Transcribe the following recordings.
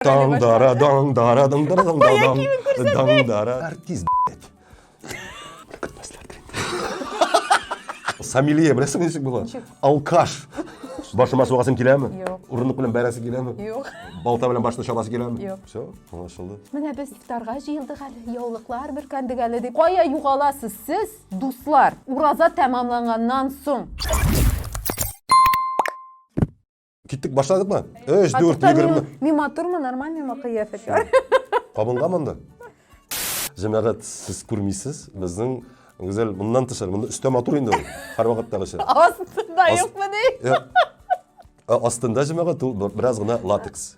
Дан дара дан дара дан дара дан дара дан дан дара. Артист, блядь. Көтмәсләр тренер. Самилия, беләсең ничек була? Алкаш. Башыма сугасым киләме? Юк. Урындык белән бәрәсе киләме? Юк. Балта белән башны чаласы киләме? Юк. Все, аңлашылды. Менә без ифтарга җыелдык әле, яулыклар бөркәндек әле дип. Кая югаласыз сез, дуслар? Ураза тәмамланганнан соң. Киттек, башладык ма? Өш, дүрт, егерме. Мин матурмы, нормаль мима кыяфет? Кабынга монда. Җәмәгать, сез күрмисез, безнең Гүзәл моннан тышар, монда өстә матур инде ул, һәр вакыттагыча. Астында юкмы ди? Астында җәмәгать ул бераз гына латекс.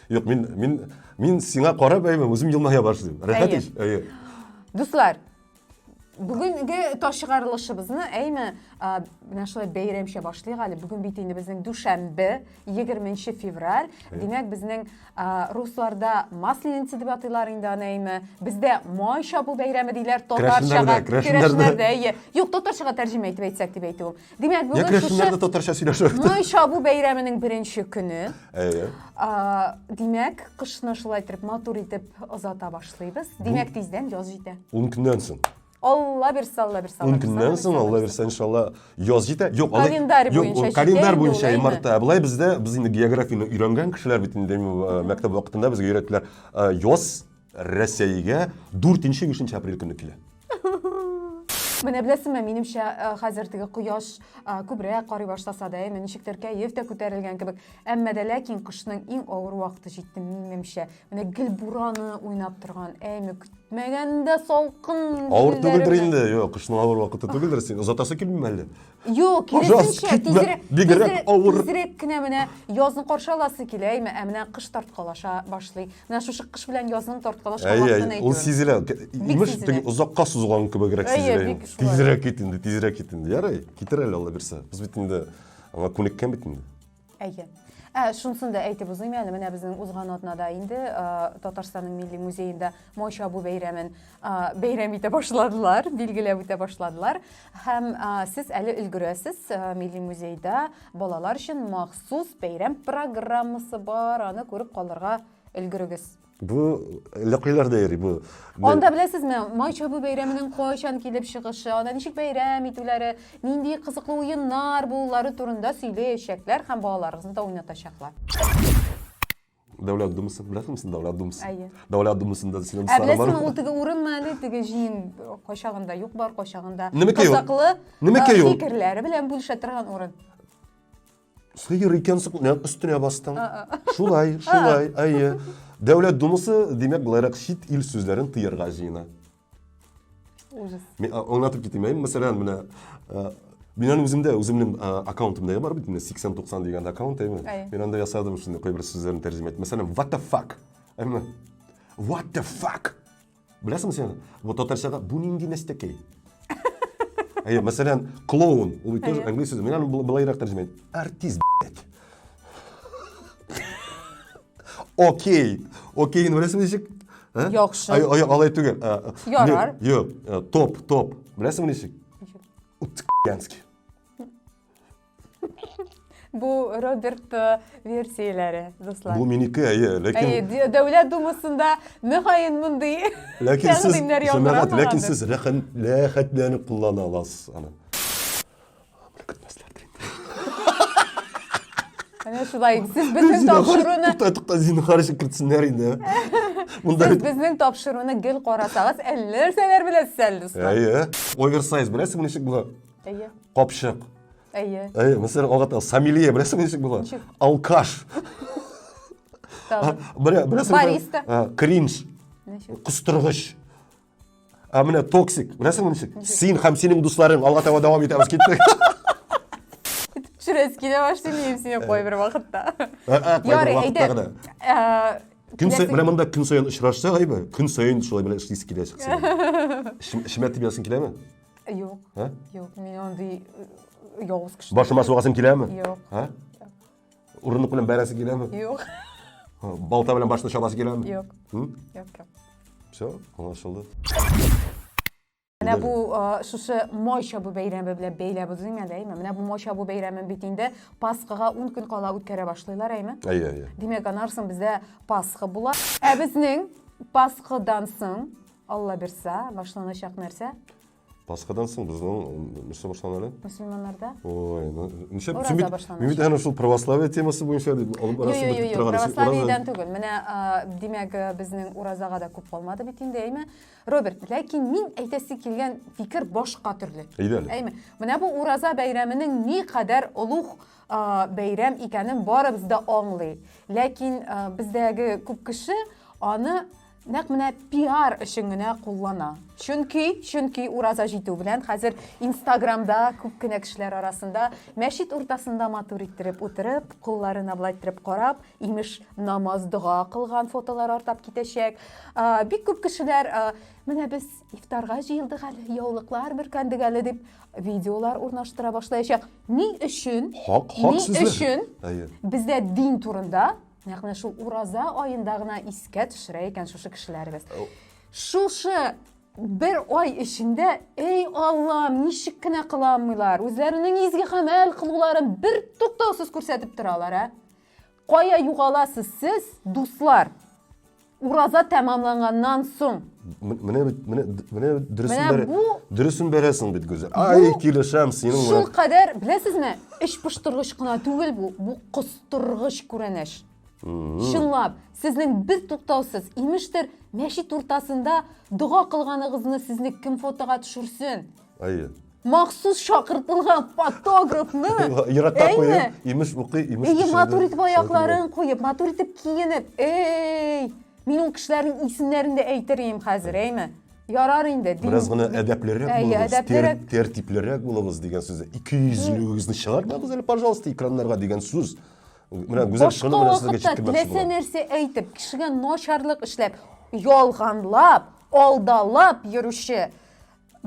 Юк, мин, мин, мин сиңа карап әйме, үзем елмая башлыйм. Рәхәт ич. Әйе. Дуслар, бүгенге ташыгарылышыбызны әйме менә шулай бәйрәмчә башлыйк әле. Бүген бит инде безнең дүшәмбе, 20 февраль. Димәк, безнең русларда Масленица дип атыйлар инде аны әйме. Бездә май чабу бәйрәме диләр татарчага. Керәшеннәрдә, әйе. Юк, татарчага тәрҗемә итеп әйтсәк дип әйтүем. Димәк, Як бүген рәсемнәр дә шушы татарча сөйләшә. Май чабу бәйрәменең беренче көне. Әйе. А, Димәк, кышны шулай итеп матур итеп озата башлыйбыз. Димәк, тиздән яз җитә. Ун көннән соң. Алла бирсә, Алла бирсә. Алла Ун бирсә, көннән Алла соң, бирсә, Алла бирсә, иншалла, яз җитә. Юк, алай- Календарь юк, буенча ул календарь җитә инде буенча ул, әйме? марта. Ә Болай бездә, без инде географияне өйрәнгән кешеләр бит инде, э, мәктәп вакытында безгә өйрәттеләр. Э, Яз Рәсәйгә 4 нче 5 нче апрель көнне килә. Менә беләсеңме, минемчә, э, хәзер теге кояш э, күбрәк карый башласа да, әйме, ничектер кәеф тә күтәрелгән кебек. Әмма дә ләкин кышның иң авыр вакыты җитте, минемчә. Менә гел бураны уйнап торган, әйме, көтмәгәндә салкын. Авыр түгелдер инде, юк, кышның авыр вакыты түгелдер, син озатасы килмиме әллә? Юк, киресенчә, тизрәк, бигрәк авыр. Тизрәк кенә менә язны каршы аласы килә, әйме, ә менә кыш тарткалаша башлый. Менә шушы кыш белән язның тарткалашкан вакытын әйтү. Ул сизелә. Имеш, теге озакка сузылган кебегрәк сизелә. Тизрәк кит инде, тизрәк кит инде. Ярый, китер әле Алла бирсә. Без бит инде аңа күнеккән бит инде. Әйе. Ә шунысын да әйтеп узыйм әле, менә безнең узган атнада инде Татарстанның милли музеенда май чабу бәйрәмен бәйрәм итә башладылар, билгеләп үтә башладылар. Һәм сез әле өлгерәсез, милли музейда балалар өчен махсус бәйрәм программасы бар, аны күреп калырга өлгерегез. Бу ләкыйләрдә йөри бу. Анда беләсезме, май чабу бәйрәменең кайчан килеп чыгышы, аны ничек бәйрәм итүләре, нинди кызыклы уеннар булулары турында сөйләячәкләр һәм балаларыгызны да уйнатачаклар. Дәүләт Думасы, беләсезме сез Дәүләт Думасы? Әйе. Дәүләт Думасында синең Ә дусларың беләсезме, ул теге урынмы әле, теге җыен кайчагында юк бар, кайчагында Немкә юк? кызыклы Немкә юк? фикерләре белән бүлешә торган урын. Сыер икәнсең, нәкъ өстенә бастың. Шулай, шулай, әйе. Дәүләт Думасы, димәк, буларак чит ил сүзләрен тыярга җыена. Ужас. Мин аңлатып китим, әйе, мәсәлән, менә Минән үземдә, үземнең аккаунтымда бар бит, менә 80-90 дигән аккаунт, әйме? Мин анда ясадым шундый кайбер сүзләрне тәрҗемә итеп. Мәсәлән, what the fuck? Әйме? What the fuck? Беләсең сен, вот татарчада бу нинди нәстәкәй? Әйе, мәсәлән, клоун, ул бит тоже английский сүз. Мин аны былайрак тәрҗемә итәм. Артист, блядь. Окей. Окей, беләсең ничек? Яхшы. Ай, ай, алай түгел. Ярар. Юк, топ, топ. Беләсең ничек? Ничек? Утскянский. Бу Роберт э, версияләре, дуслар. Бу минеке, әйе, ләкин... Әйе, Дәүләт Думасында мөгаен мондый ләкин сез, җәмәгать, ләкин сез рәхәтләнеп куллана аласыз аны. Менә шулай. Сез безнең тапшыруны Тукта, тукта, зинһар ишек кертсеннәр инде. Монда Сез безнең тапшыруны гел карасагыз, әллә нәрсәләр беләсез әле. Әйе. Оверсайз беләсезме ничек була? Әйе. Капчык. Әйе. Әйе, мәсәлән, алгата Самилия, беләсең ничек була? Ничек? Алкаш. Белә, беләсең. Бариста. Кринж. Ничек? Кустыргыч. Ә менә токсик, беләсең ничек? Син һәм синең дусларың алга таба дәвам итәбез киттек. Шүрәс килә башлый мин сине кой бер вакытта. Ярый, әйдә. Көн саен менә монда көн саен очрашсак, әйбер. Көн саен шулай белән эшлисе килә чыкса. Шимәт дип язсын киләме? Юк. Ә? Юк, мин андый э, явыз кеше. Башыма сугасым киләме? Юк. Ә? Урындык белән бәрәсе киләме? Юк. Балта белән башны чабасы киләме? Юк. Юк, юк. Все, аңлашылды. Менә бу шушы май чабу бәйрәме белән бәйләп үзең әле, әйме? Менә бу май чабу бәйрәме бит инде Пасхага 10 көн кала үткәрә башлыйлар, әйме? Әйе, әйе. Димәк, анарсын бездә Пасха була. Ә безнең Пасхадан соң Алла бирса, башланачак нәрсә? Пасхадан соң безнең нәрсә башлана әле? Мөселманнарда? Ой, ну, ничә Ураза башлана. Мин бит әнә шул православие темасы буенча дип алып арасы бетеп торган. Православиедән түгел. Менә димәк безнең уразага да күп калмады бит инде, әйме? Роберт, ләкин мин әйтәсе килгән фикер башка төрле. Әйдә әле. Әйме? Менә бу ураза бәйрәменең ни кадәр олуг бәйрәм икәнен барыбыз да аңлый. Ләкин бездәге күп кеше аны Нәкъ менә пиар өчен генә куллана. Чөнки, чөнки ураза җитү белән хәзер Инстаграмда күп кенә кешеләр арасында мәчет уртасында матур иттереп утырып, кулларын аблайттерып карап, имеш, намаз, дога кылган фотолар артап китәчәк. Бик күп кешеләр менә без ифтарга җыелдык әле, яулыклар бөркәндек әле дип видеолар урнаштыра башлаячак. Ни өчен? Хак, хак Ни өчен? Бездә дин турында Ягъни шул ураза аенда гына искә төшерә икән шушы кешеләребез. Шушы бер ай эчендә эй аллам ничек кенә кыланмыйлар үзләренең изге гамәл кылуларын бер туктаусыз күрсәтеп торалар ә кая югаласыз сез дуслар Ураза тәмамланганнан соң. Менә бит, менә менә дөресен бер дөресен бәрәсең бит Гүзәл. Ай, килешәм синең белән. Шул кадәр, беләсезме, эч пошторгыч кына түгел бу, бу костыргыч күренеш. Чынлап, сезнең без туктаусыз, имештер, мәчет уртасында дога кылганыгызны сезне кем фотога төшерсен? Әйе. Махсус чакыртылган фотографны. Ярата куеп, имеш укый, имеш пешерде. Әйе, матур итеп аякларын куеп, матур итеп киенеп. Эй! Мин ул кешеләрнең исемнәрен дә әйтер идем хәзер, әйме? Ярар инде. Бераз гына әдәплерәк булыгыз, әдәплерәк... тәртиплерәк булыгыз дигән сүз. Ике йөзлегегезне чыгармагыз әле, пожалуйста, экраннарга дигән сүз. Менә гүзәл шуны менә сезгә җиткермәкче булам. Башка вакытта нәрсә әйтеп, кешегә начарлык эшләп, ялганлап, алдалап йөрүче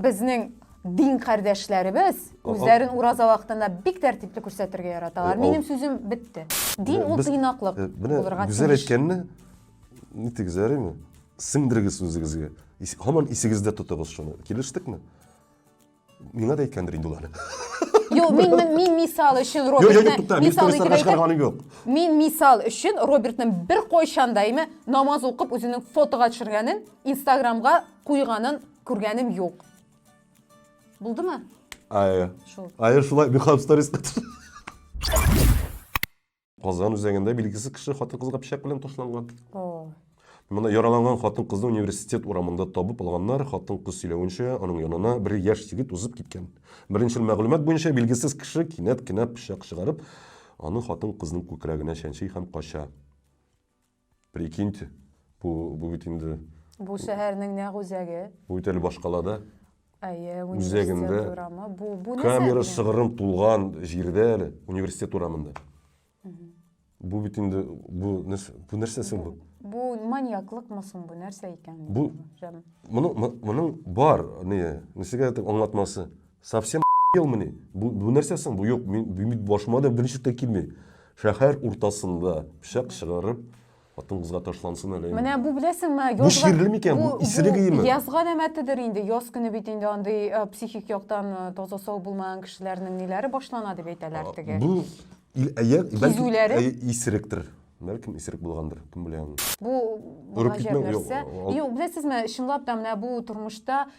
Безнең дин кардәшләребез үзләрен ураза вакытында бик тәртипле күрсәтергә яраталар. Э, Минем сүзем бетте. Дин ул тыйнаклык э, булырга тиеш. Гүзәл әйткәнне нитегез ярыймы? Сеңдергез үзегезгә. Һаман исегездә тотыгыз шуны. Килештекме? Миңа да әйткәндер инде ул әле. Юк, мин мин, мин мисал өчен Робертны мисал итеп әйтәм. Мин мисал өчен Робертның бер кайчан да име намаз укып үзенең фотога төшергәнен, Инстаграмга куйганын Күргәнем юк. Булдымы? Ае. Шул. Ае шулай бихаб сторис Казан үзәгендә билгесез кеше хатын-кызга пычак белән ташланган. О. Мына яраланган хатын-кызны университет урамында табып алганнар. Хатын-кыз сөйләвенчә, аның янына бер яшь егет узып киткән. Беренчел мәгълүмат буенча билгесез кеше кинәт кенә пычак чыгарып, аны хатын-кызның күкрәгенә чәнчи һәм кача. Прикиньте, бу, бу бит инде... Бу шәһәрнең нәкъ үзәге. Бу бит әле башкалада. Әйе, университет урамы. Бу, бу нәрсә? Камера шыгырым тулган җирдә әле, университет урамында. Бу бит инде, бу нәрсә, бу нәрсә соң бу? Бу маньяклыкмы соң бу, нәрсә икән? Бу, моның, моның бар, не, нәрсәгә аңлатмасы? Совсем елмыни? Бу, бу нәрсә соң? Бу юк, мин бит башыма да берничек тә килми. Шәһәр уртасында пычак чыгарып, хатын кызга ташлансын әле. Менә бу беләсеңме, язга... Бу чирле микән? Бу исерек иеме? Язга нәмәтедер инде. Яз көне бит инде андый э, психик яктан э, таза сау булмаган кешеләрнең ниләре башлана дип әйтәләр теге. Бу кизүләре исеректер. Бәлкем исерек булгандыр, кем белә. Бу гаҗәп нәрсә. Юк, беләсезме, чынлап та менә бу тормышта